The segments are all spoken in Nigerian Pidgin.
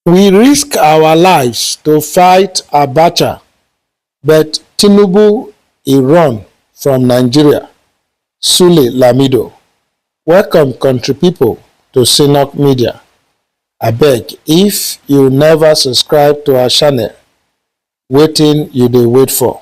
We risk our lives to fight Abacha but Tinubu e run from Nigeria, Sule Lamido. Welcome country people to Synok Media. Abeg, if you never subscribe to our channel, wetin you dey wait for?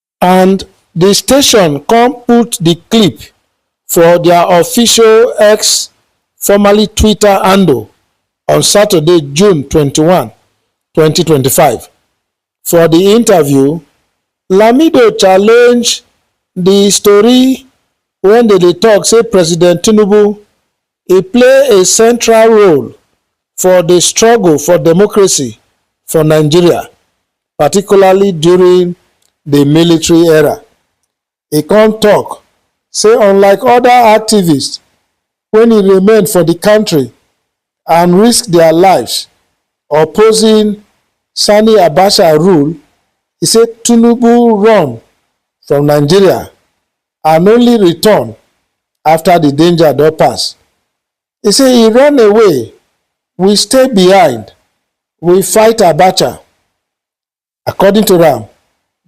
And di station kon put di clip for dia official X, formerly Twitter, handle on Saturday, June twenty one, twenty twenty five. For di interview, Lamido challenge di story wen dem dey tok say President Tinubu e play a central role for di struggle for democracy for Nigeria particularly during di military era. E come tok say unlike oda activists wey remain for di kontri and risk dia lives opposing Sani Abacha rule, e say Tinubu run from Nigeria and only return afta di danger don pass. He say he run away, we stay behind, we fight Abacha. According to am,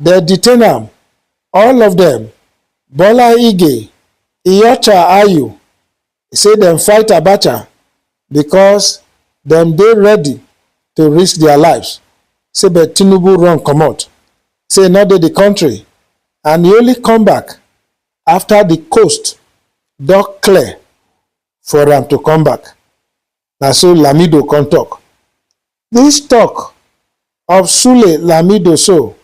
dem detain am, all of dem, Bola Ige, Iyorchia Ayu, say dem fight Abacha because dem dey ready to risk their lives, say but Tinubu run comot, say he no dey the country and he only come back after the coast don clear for am to come back. Na so Lamido come talk. This talk of Sule Lamido so,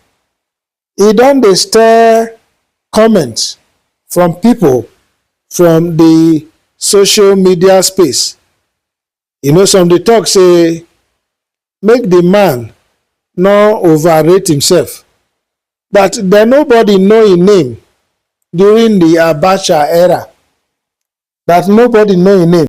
e don dey stir comments from people from the social media space You know some dey talk say make the man no overrate himself but then nobody know him name during the Abacha era but nobody know him name.